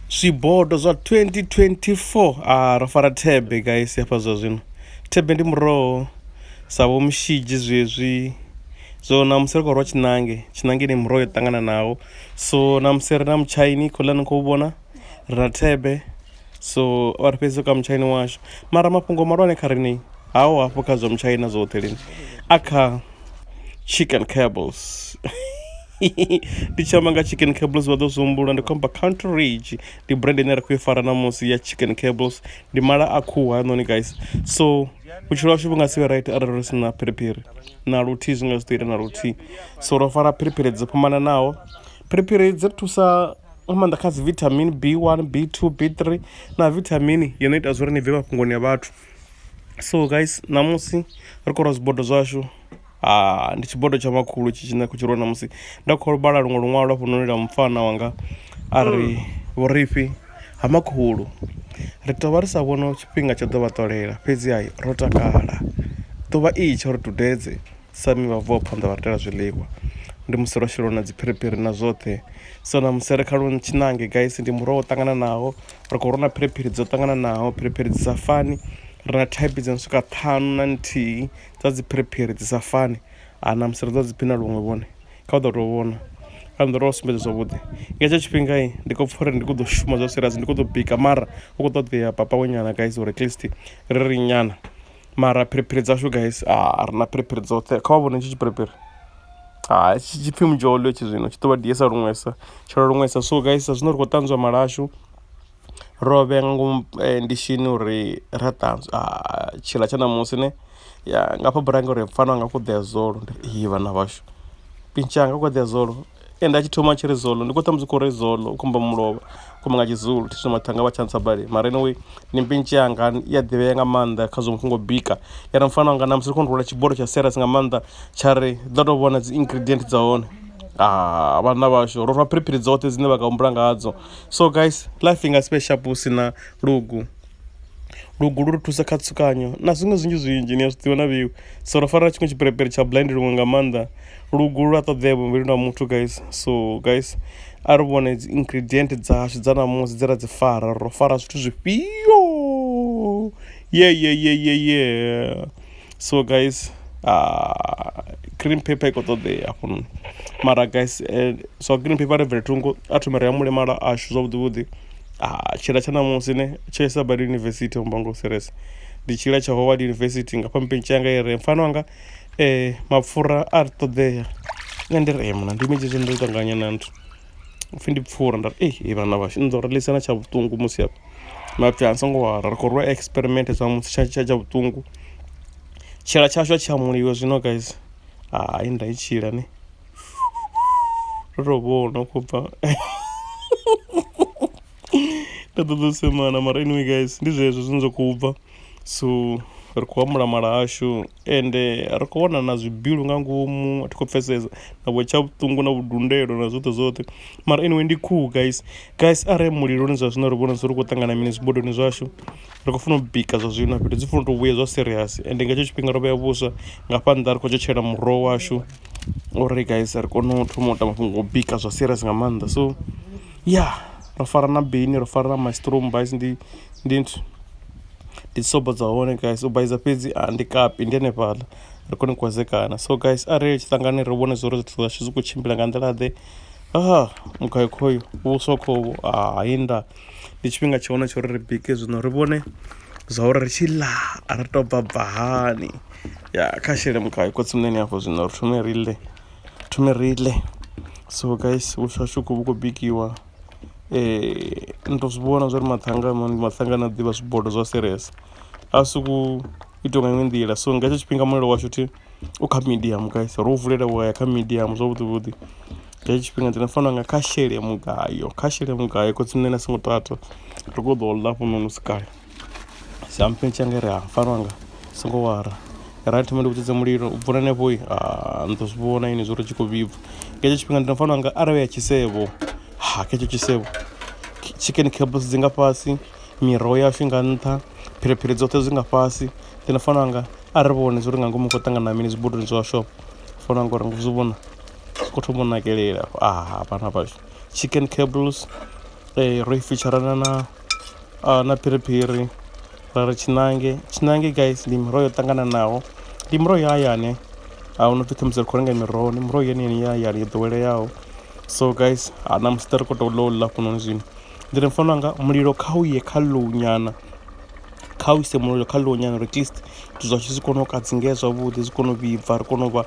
Zwibodo zwa 2024 ah ro fara thebe guys hafha zwa zwino thebe ndi muroho sa vho mushidzi zwezwi so namusi ri khou rwa tshinange tshinange ni muroho yo ṱangananaho so namusi ri na mutshaini khoḽa ni khou vhona ri na thebe so vha ri fhedzisa ka mutshaini washu mara mafhungo malwane kha rini haho hafho kha zwa mutshaina zwoṱhe lini a kha chicken cables ndi tshi amba nga chicken cables vha ḓo zwi humbula ndi khou amba country rage ndi brand ine ra khou i fara na musi ya chicken cables ndi mala a khuhu hanoni guys so vhutshilo washu vhu nga si vhe right arali ri si na phiriphiri na luthihi zwi nga zwi ḓo ita na luthihi so ro fara phiriphiri dzo fhambananaho phiriphiri dzi ri thusa nga maanḓa kha dzi vitamin b one b two b three na vithamini yo no ita zwa uri ni bve mafhungoni a vhathu so guys ṋamusi ri khou lwa zwibodo zwashu ndi tshibodo tsha makhulu tshi tshine khou tshi lwa ṋamusi nda khou vhala luṅwe luṅwalo lwa fhunoni lwa mupfana wanga a ri vhurifhi ha makhulu ri tovha ri sa vhoni tshifhinga tsha ḓo vha ṱolela fhedzi ha ro takala ḓuvha itsho ri dudedze sami vha vuwa phanḓa vha ri itela zwiḽiwa ndi musi lwa sheliwa na dzi phiriphiri na zwoṱhe so na musi ri kha lwo tshiṋange gaisi ndi muroho wo ṱangananaho ri khou rona phiriphiri dzo ṱangananaho phiriphiri dzi sa fani ri na thaiphi dzo no swika ṱhanu na nthihi. dza dzi phiriphiri dzi sa fani ha na musi ri ḓo dzi phina luṅwe vhone kha u ḓo tou vhona kha nḓila o sumbedza zwavhuḓi nga hetsho tshifhinga ndi khou pfha uri ndi kho ḓo shuma zwa serious ndi kho ḓo bika mara u kho ṱoḓea papa we nyana guys uri at least ri ri nyana mara phiriphiri dzashu guys a ri na phiriphiri dzoṱhe kha vha vhone tshi tshipiriphiri ha tshi tshipfhi mudzhou ḽi tshi zwino tshi ḓo vha ḓi yesa luṅwesa tshila luṅwesa so guys sa zwino ri khou ṱanzwa malashu. rovhe nga ngomu ndishini uri ra ṱanzwa tshiḽa tsha ṋamusi ne ya nga fha burange uri pfani wanga kho ḓoya zolo ndi ri iyi vhana vhashu pintsha hanga kho ḓoya zolo ende a tshi thoma tshiri zolo ndi kho ṱhamusi u kho ri zolo u khomba mulovha khou nga tshizulu thi zwino maṱanga vha tsha ntsa badi mara anyway ndi pintsha yanga i a ḓivhea nga maanḓa khazwo mafhungo o bika ya ri mufana wanga ṋamusi ri kho rula tshibodo tsha serious nga maanḓa tsha ri ḓo to vhona dzi ingredient dza hone vhana vhashu ro rwa phiriphiri dzoṱhe dzine vha nga humbula nga hadzo so guys life inga sibe sharp hu sina lugu lugu lu ri thusa kha tsukanyo na zwiṅwe zwinzhi zwinzhi ni a zwi ḓivha na vhiwi so ro fara tshiṅwe tshiperepere tsha blind luṅwe nga maanḓa lugu lu a ṱoḓea muvhilini wa muthu guys so guys a ri vhone dzi ingredient dzashu dza namusi dze ra dzi fara ro fara zwithu zwifhio ye ye ye ye ye so guys uh, green paper i khou ṱoḓea hafhanoni mara guys eh, so green paper ri bvele thungo a thome ri ya mulemala ashu zwavhuḓivhuḓi ah, tshila tsha ṋamusi ne tsho isa badi university mbango series ndi tshila tsha howard university nga phampini tshi yanga i re mfana wanga um mapfura a ri ṱoḓea nṋe ndi re mna ndi medzhezwo ndo ṱanganya na nthu upfhi ndi pfura nda ri ei vhana vhashu ni ḓo ri ḽisela tsha vhuṱungu musi hafha nda pfhi a songo wara ri khou rwa experiment zwa musi tsha tsha tsha vhuṱungu tshila tshashu a tshi hamuliwe zwino guys hai nda i tshila ne ro tou vhona u khou bva nda ṱoḓa u semana mara anyway guys ndi zwezwo zwine zwa khou bva so ri khou hamula mala ashu ende ri khou wana na zwibilu nga ngomu a thi khou pfesesa na vho tsha vhuṱungu na vhudundelo na zwoṱhe zwoṱhe mara anyway ndi khuhu guys guys arali muliloni zwa zwino ri vhona zwi ri khou ṱangana mini zwibodoni zwashu ri khou funa u bika zwa zwino fhethu dzi funa u to vhuya zwa serious ende nga hetsho tshifhinga ro vhea vhuswa nga fha nnḓa ri khou tshetshelela muroho washu uri guys ri kone u thoma u ita mafhungo o bika zwa serious nga maanḓa so ya ro fara na bini ro fara na maistrom guys ndi ndi nthu. ndi dzi sobo dza hone guys u baiza fhedzi a ndi kapi ndi hanefhaḽa ri kone u kwazekana so guys a ri tshi ṱangane ri vhone zwori zwithu zwashu zwi khou tshimbila nga nḓila ḓe ha mugayo khoyo vhuswa khohu hai nda ndi tshifhinga tsha hone tsha uri ri bike zwino ri vhone zwa uri ri tshi ḽa ri to bva bva hani ya kha shele mugayo khotsi muṋeni afho zwino ri thome ri ḽe thome ri ḽe so guys vhuswa hashu khou vhu khou bikiwa Ni tou zwi vhona zwa uri maṱanga ndi maṱanga ane a ḓivha zwibodo zwa serious a si ku itiwa nga iṅwe nḓila so nga hetsho tshifhinga mulilo washu thi u kha medium guys ro vulela wa ya kha medium zwavhuḓi vhuḓi nga hetsho tshifhinga ndi fanela u nga kha shele mugayo kha shele mugayo cause nṋe nda songo tata ri khou ṱoḓa u ḽa hafhanoni hu si kale. Samphe tsha nga ri ha farwa nga songo wara ra thoma ndi vhudzedza mulilo u bvula hanefho ni ḓo zwi vhona ini zwo ri tshi khou vhibva nga hetsho tshifhinga ndi no fanela nga arali ya tshisevho ha kha hetsho tshisevho chicken cables dzi nga fhasi miroho yashu nga nṱha phiriphiri dzoṱhe zwi nga fhasi ndi no fanela nga a ri vhone zwo ri nga ngomu khou ṱangana mini zwibodoni zwa shop fanela nga uri ngo zwi vhona zwi khou thoma u nakelela a vhana vhashu chicken cables ro i fitsharana na uh, na phiriphiri ra ri tshiṋange tshiṋange guys ndi miroho yo ṱangananaho ndi miroho ya hayani a hu no pfhi khamusi ri khou renga miroho ndi miroho yeneyeni ya hayani yo ḓoweleaho so guys ha na musi ri khou tou ḽo ḽa fhunoni zwino ndi ri mfana wanga mulilo kha u ye kha low nyana kha u ise mulilo kha low nyana at least zwithu zwashu zwi kone u kadzingea zwavhuḓi zwi kone u vhibva ri kone u vha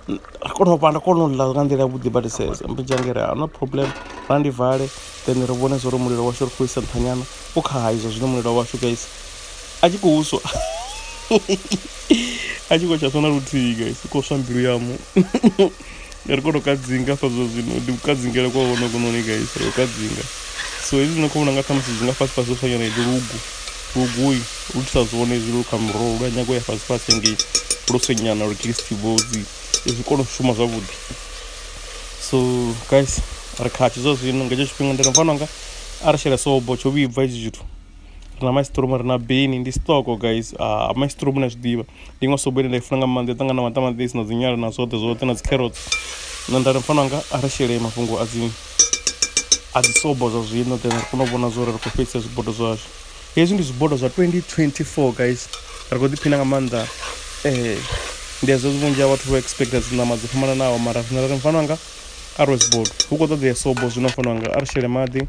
ri kone u vha nda kona u ḽa nga nḓila yavhuḓi badi says mbijangere a no problem ra ndi vale then ri vhone zwo ri mulilo washu ri khou isa nṱhanyana u kha ha izwo zwino mulilo washu guys a tshi khou swa a tshi khou tsha swa na luthihi guys u khou swa mbilu yamu ri kone u kadzinga hafha zwo zwino ndi kudzingele kwa hone kunoni guys ri u kadzinga so hezwi zwino khou vhona nga ṱhamusi zwi nga fhasi fhasi zwo fanyana ndi lugu Luguy lu thusa zwone hezwi lu kha muroho lu a nyaga u ya fhasi fhasi ngei lu senyana lu crispy vhodzi zwi kone u shuma zwavhuḓi so guys ri khatsho zwa zwino nga hetsho tshifhinga ndi ri mfana wanga a ri shele sobo tsho vhibva hezwi zwithu ri na maistromo ri na beni ndi stoko guys a maistromo ni a zwi ḓivha ndi iṅwe sobo ine nda i funa nga maanḓa i ṱangana na maṱamaṱisi na dzi nyala na zwoṱhe zwoṱhe na dzi kherotsi nṋe nda ri mfana wanga a ri shele mafhungo a dzi a dzi sobo zwa zwino then ri kone u vhona zwa uri ri khou fhedzisa zwibodo zwashu hezwi ndi zwibodo zwa 2024 guys ri khou ḓiphina nga maanḓa um ndi hezwo vhunzhi ha vhathu vho expecta dzi ṋama dzo fhambananaho mara zwino ri mfano anga a ro zwibodo hu khou ṱoḓea sobo zwino mfano anga a ri shele maḓi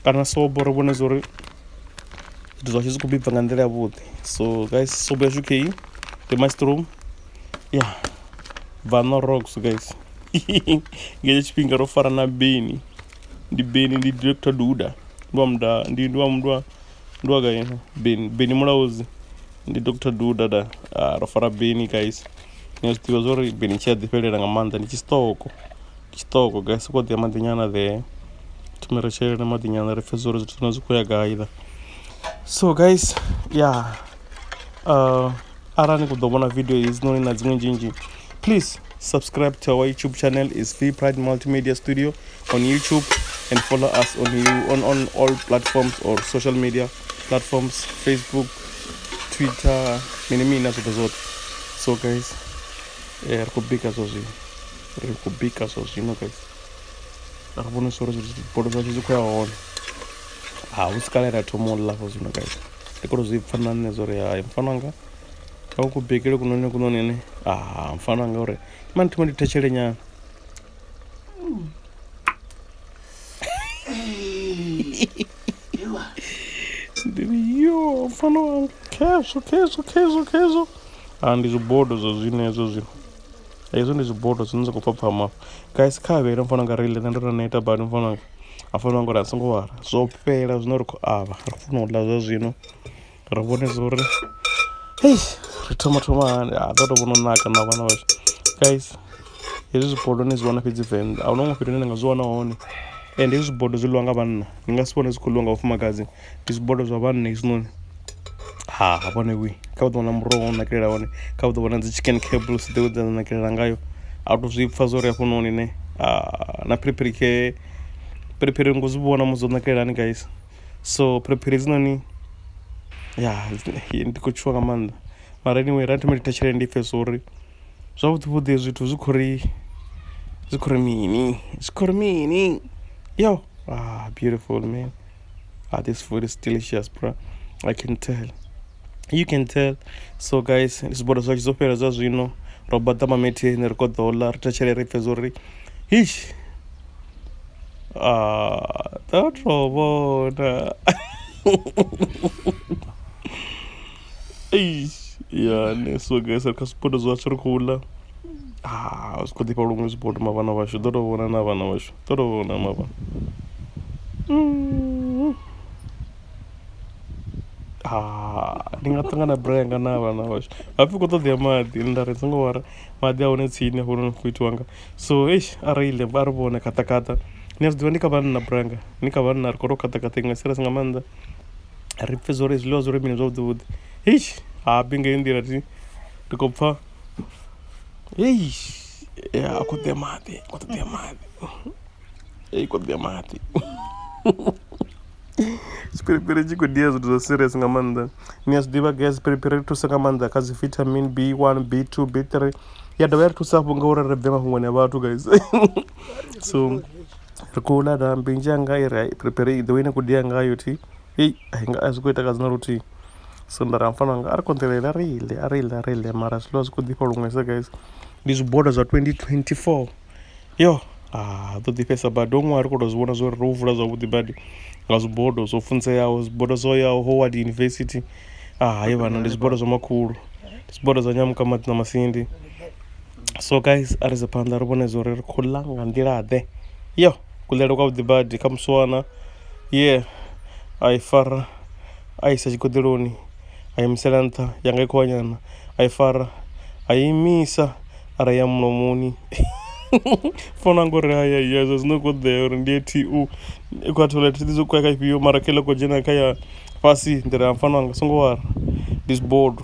kana sobo ri vhone zwa uri zwithu zwashu zwi khou bibva nga nḓila yavhuḓi so guys sobo yashu kheyi ndi mushroom ya yeah. vanorox guys ngetsho tshifhinga ro fara na beni ndi beni ndi dr duda ndi wa muda ndi ndi wa mudwa ndi wa kaino beni beni mulaudzi ndi dr duda da ah, ro fara beni guys ni a zwi ḓivha zwa uri beni tshi a ḓifhelela nga maanḓa ndi tshisitoko tshisitoko guys ko ḓi ya maḓinyana there thome ri shelele maḓinyana ri pfhe zwa uri zwithu zwine zwi khou ya gai la so guys ya yeah. uh, arali ni khou ḓo vhona video hedzinoni na dziṅwe nzhinzhi please subscribe to our youtube channel is v pride multimedia studio on youtube and follow us on, on, on all platforms or social media platforms facebook twitter mini mini na zwoṱhe zwoṱhe so guys eh, ri khou bika zwa zwino ri khou bika zwa zwino guys ri vhonisa uri zwithu bodo zwashu zwi khou ya hone ha hu si kale ra thoma u ḽafho zwino guys ndi kolo zwi pfha na nṋe zwo ri hai mufana wanga a u kubekele kunoni kunoni ene a ah, mufana wanga uri mani thoma ndi thetshele nyana ndi ri yo mufana wanga khezwo khezwo khezwo khezwo a ah, ndi zwibodo zwa zwino hezwo zwino hezwo ndi zwibodo zwine zwa khou pfhapfhama guys kha vhele mufana wanga reile nṋe ndo to neta badi mufana wanga a fanela u ambara a songo lwala zwo fhela zwine ra khou avha ri khou funa u ḽa zwa zwino ri vhone zwa uri hei ri thoma thoma hani ha ḓo tou vhona u naka na vhana vhashu guys hezwi zwibodo ni zwi wana fhedzi venḓa ahuna huṅwe fhethu hune na nga zwi wana hone ende hezwi zwibodo zwi ḽiwa nga vhanna ni nga si vhone zwi khou ḽiwa nga vhafumakadzi. ndi zwibodo zwa vhanna hezwinoni ha hafha na vhuyi kha u ḓo vhona muroho u nakelela hone kha u ḓo vhona dzi chicken cables dzewe dza nakelela ngayo a to zwi pfha zwori hafhanoni ne na phiriphiri khe phiriphiri ringo zwi vhona musi dzo nakelela hani guys so phiriphiri hedzinoni ya ndi khou tshuwa nga maanḓa mara anyway ra thoma ndi thetshelele ndi pfhe zwori zwavhuḓi vhuḓi zwithu zwi khou ri zwi khou ri mini zwi khou ri mini yo beautiful man. ah this food is delicious bro i can tell you can tell so guys zwibodwa zwashu zwo fhela zwa zwino ro baḓa mametheni ri koḓo ḽa ri thetshele ri pfhe zwo ri hish ah ḓo to vhona eish yani so guys ri kha zwibodwa zwashu ri khou ḽa ah zwi khou ḓifha luṅwe zwibodwa mavhana vhashu ḓo to vhona na vhana vhashu ጥሩ ነው መባ ndi nga ṱangana brayer nga na vhana vhashu hapfi khou ṱoḓea maḓi nda ri songo wara maḓi a hone tsini hafhononi khou itiwa nga so eish a reile a ri vhone khaṱakhaṱa ni a zwi ḓivha ndi kha vhanna branga ni kha vhanna ri khou to khaṱakhaṱa iṅwe serious nga maanḓa ri pfhe zwo ri zwiḽiwa zwo ri mini zwavhuḓi vhuḓi eish ha bi ngeyo nḓila ri khou pfha Ei, é, a kuthe mathi, a kuthe mathi. Ei, kuthe mathi. Sipiripiri tshi khou dia zwithu zwa serious nga maanḓa ni a zwi ḓivha gai sipiripiri ri thusa nga maanḓa kha dzi vitamin b one b two b three ya dovha ya ri thusa hafhu ngauri ri bve mafhungoni a vhathu guys so ri khou ḽa da mbinzhi anga i ri piripiri i ḓo ine khou dia ngayo thi heyi a hi nga a zwi khou ita kadzi na luthihi so nda ri ha mufana wanga a ri konḓelele a ri ḽe a ri ḽe a ri ḽe mara zwiḽiwa zwi khou ḓifha luṅwesa guys ndi zwiboda zwa twenty twenty four yo ha ḓo ḓifhesa badi ho ṅwaha ri khou tou zwi vhona zwo ri ro vula zwavhuḓi badi nga zwibodo zwo funzeaho zwibodo zwo yaho howard university a hayi vhana ndi zwibodo zwa makhulu ndi zwibodo zwa nyamuka maḓi na masindi so guys a ri dze phanḓa ri vhone zwa uri ri khou ḽa nga nḓila ḓe yo kuḽele kwa vhuḓi badi kha musi wana ye a i fara a isa tshigoḓeloni a imisela nṱha yanga i kho nyana a i fara a imisa ara ya mulomoni founu yanga uri haya ya zwa zwino kho ḓea uri ndi ye T_O i khou ya toilet thi ḓivhi zwa khou ya kha ifhio mara kha iḽa kho dzhena kha ya fhasi nḓila ya mufana wanga songo wara ndi zwibodo.